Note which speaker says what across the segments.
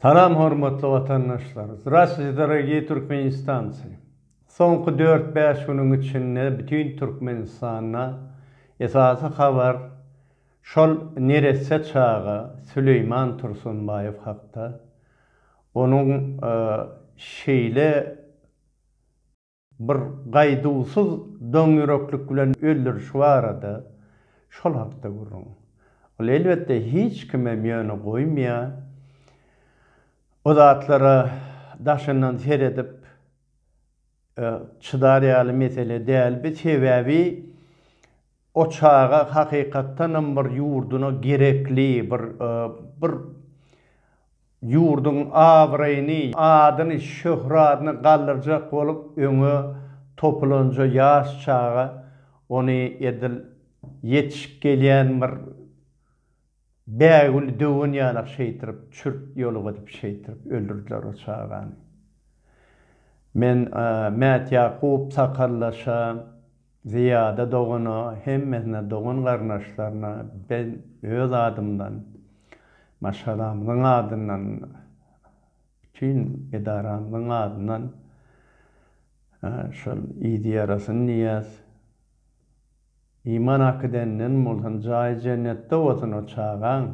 Speaker 1: Salam hormatly watandaşlar! Zdrastwyte dorogiý turkmenistancy! Soňky dört-bäş günüň içinde bütin Türkmenistanda esasy habar şol neresse çaga Süleýman Tursunbaýew hakda, onuň şeýle, bir gaýduwsyz doňýüreklik bilen öldürişi barada şol hakda gürrüň. Ol elbetde hiç kimem ýöne goýmaýar. O zatlara daşyndan seredip çydar ýaly mesele däl bi sebäbi O çaga hakykatdanam bir ýurduna gerekli, bir bir ýurduň abraýyny, adyny, şöhradyny galdyrjak bolup öňe topulanja ýaş çaga ony edil ýetişip gelýän bir Bägül döwen ýalak şeýtirip çürt ýolup edip şeýtirip öldürdiler o çagany. Men Mätýakup sakaldaşa, Zyýada dogana, hemmesine dogan garyndaşlaryna ben öz adymdan, maşgalamyzyň adyndan, bütin edaramyzyň adyndan şol yzy ýarasyn diýýäs. Iman akydenden bolsun jaýy jennetde bolsun o çagaň.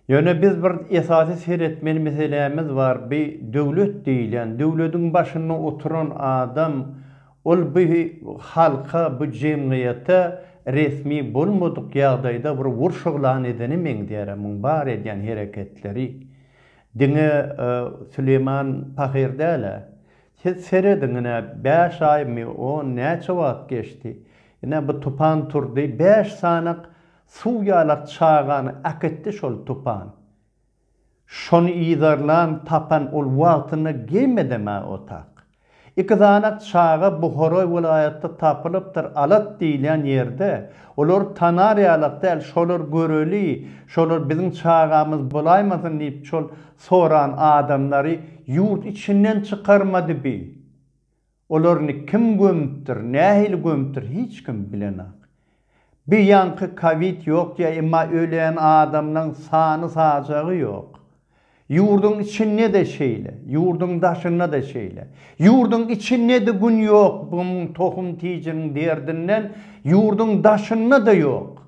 Speaker 1: Ýöne biz bir esasy seretmeli meselämiz bar bi döwlet diýilýän döwlediň başynda oturan adam ol bi halka bu jemgyýete resmi bolmadyk ýagdaýda bir urş yglan edene meňzýärä muň bar edýän hereketleri diňe Süleýman pahyr dälä Siz serediň, ine, bäş aýmy, on näçe wagt geçdi. Ine, bu tupan turdy, bäş sanak suw ýalak çagany äkitdi şol tupan. Şony yzarlan, tapan ol wagtynda geýim edem-ä otak. Iki sanak çaga Buhara welaýatda tapylypdyr, Alat diýilýän ýerde. Olary tanar ýalak däl, şolar göreli, şolar biziň çagamyz bolaýmasyn diýip, şol Soran adamlary ýurt içinden çykarmady bi. Olaryny kim gömüpdir, nähili gömüpdir hiç kim bilenak. Bi ýaňky kowid ýok diýýä emma ölen adamlaň sany sajagy ýok. Ýurduň içinde-de şeýle, ýurduň daşynda-da şeýle. Ýurduň içinde-de gün ýok bum tohum tijiniň derdinden, ýurduň daşynda-da ýok.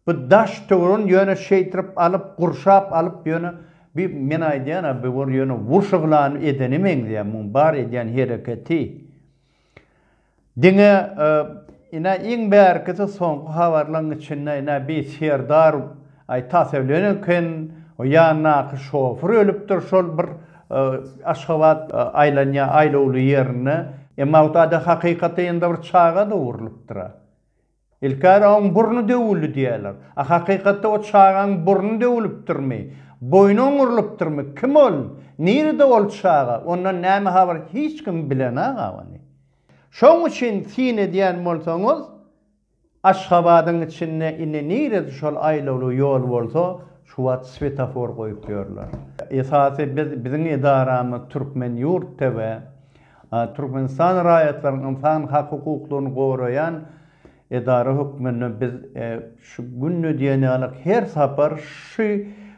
Speaker 1: Bu daş töwran ýöne şeýtirip alyp gurşap alyp ýöne bi men aýdýan a bi bir ýöne wurşa hlany edene meňzeýär muň bar edýän hereketi diňe ina iň bärkisi soňky habarlaň içinde ina bi serdar aý tasewlen eken o ýandaky şofir ölüpdir şol bir aşgabat aýlanýa aýlawly ýerinde emma o tada hakykaty ýa-da bir çagada urlupdyr a Ilkara oň burny döwüldi diýýärler. A hakykatda o çagaň burny döwülipdirmi? Boýny oňurylypdyrmy? Kim ol? Nirede ol çaga? Ondan näme habar hiç kim bilenag agany. Şoň üçin syn edýän bolsaňyz Aşgabadyň içinde indi nirede şol aýlawly ýol bolsa şu wagt swetafor goýup ýörler. Esasy biz biziň edaramyz Türkmen ýurt TV. Türkmenistan raýatlaryň ynsan hak-hukuklaryny goraýan edara hökmünde biz şu gününe diýen ýaly her sapar şu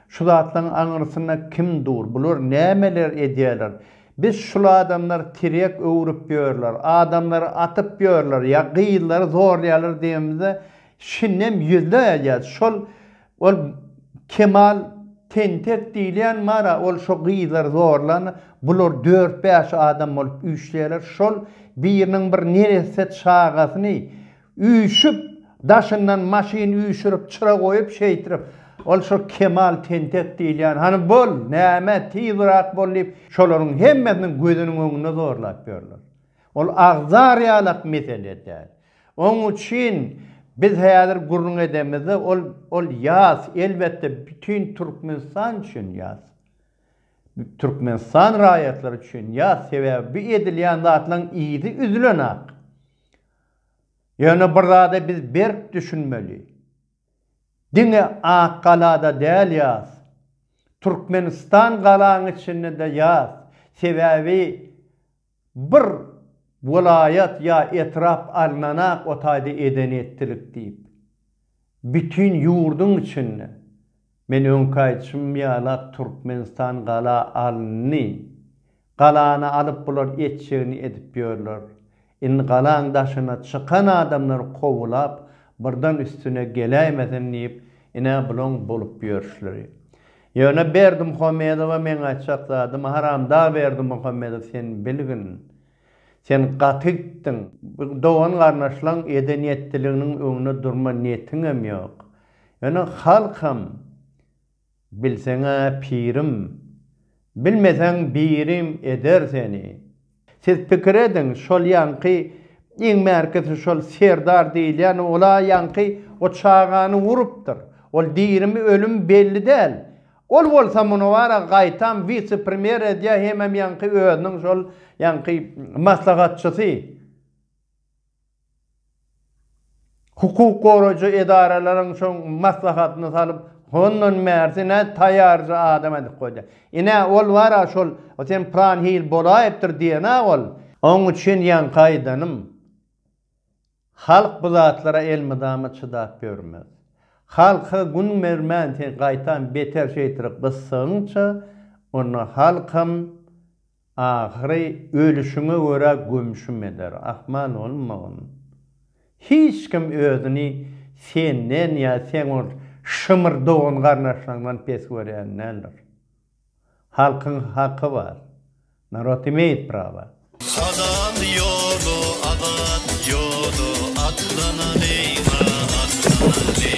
Speaker 1: şu zatlaryň aňyrsynda kim dur, bular nämeler edýärler, biz şul adamlar tirýek öwrüp ýörler, adamlary atyp ýörler ýa gyzlary zorlaýarlar diýenimizde şindem ýüzleýärys. Şol Ol Kemal tentek diýilýän mara ol şo gyzlary zorlan bular dört bäş adam bolup üýşýärler şol biriniň bir neresse çagasyny üýşüp daşyndan maşyn üýşürip çyra goýup şeýtirip ol şo Kemal tentek diýilýän hany bol näme tizrak bol diýip şolaryň hemmesiniň gözüniň öňünde zorlap ýörler ol agzar ýalak mesele däl Oň üçin biz häzir gürrüň edemizde ol ol ýas, elbetde bütin Türkmenistan üçin ýas. Türkmenistan raýatlary üçin ýas, sebäbi bu edilýän zatlaryň yzy üzülenak. Ýöne bir zada biz berk düşünmeli. Diňe Ak galada däl ýas. Türkmenistan galaň içinde-de ýas. Sebäbi Bir welaýat ýa etrap alnanak o taýda eden etdilik diýip, bütin ýurduň içinde, men öňki aýtşym ýala Türkmenistan gala alyndy, galany alyp bular etjegini edip ýörler, indi galaň daşyna çykan adamlar kowulap birden üstüne geläýmesin diýip ine bulaň bolup ýörşleri. Ýöne Berdimuhamedowa meň aýtjak zadym haramdag Berdimuhamedow sen bilgin sen gaty gitdiň dogan garnaşlaň eden ýetdiliginiň öňüne durma niýetiňem ýok ýöne halkam bilseňä pirim bilmeseň birim eder seni Siz pikir ediň, şol ýaňky iň bärkisi şol Serdar diýilýän ol-a ýaňky o çagany urupdyr. Ol dirimi, ölüm belli däl. Ol bolsa muny bara gaýtam wise-premýer edýär hemem ýaňky özüniň şol ýaňky maslahatçysy. Hukuk goraýjy edaralaryň şo maslahatyny salyp, hondan bärsi nä taýýarja adam edip goýdy. Ine, ol bar-a şol, sen pylan hil bolaýypdyr diýen-ä ol. Oň üçin ýaňky aýdanym, halk bu zatlara elmydama çydap ýörmez. Halka gün bermän sen gaýtam beter şeýtirik gyssagyňça, onda halkam Ahyry ölüşiňe görä gömşüm eder. Ahmal bolmagyn. Hiç kim özüni senden ýa seň ol şymyr dogan-garyndaşlaryňdan pes görýän däldir. Halkyň haky bar. Narod imeýt prawa. Halal ýola azat ýola atlanalyň a atlanalyň.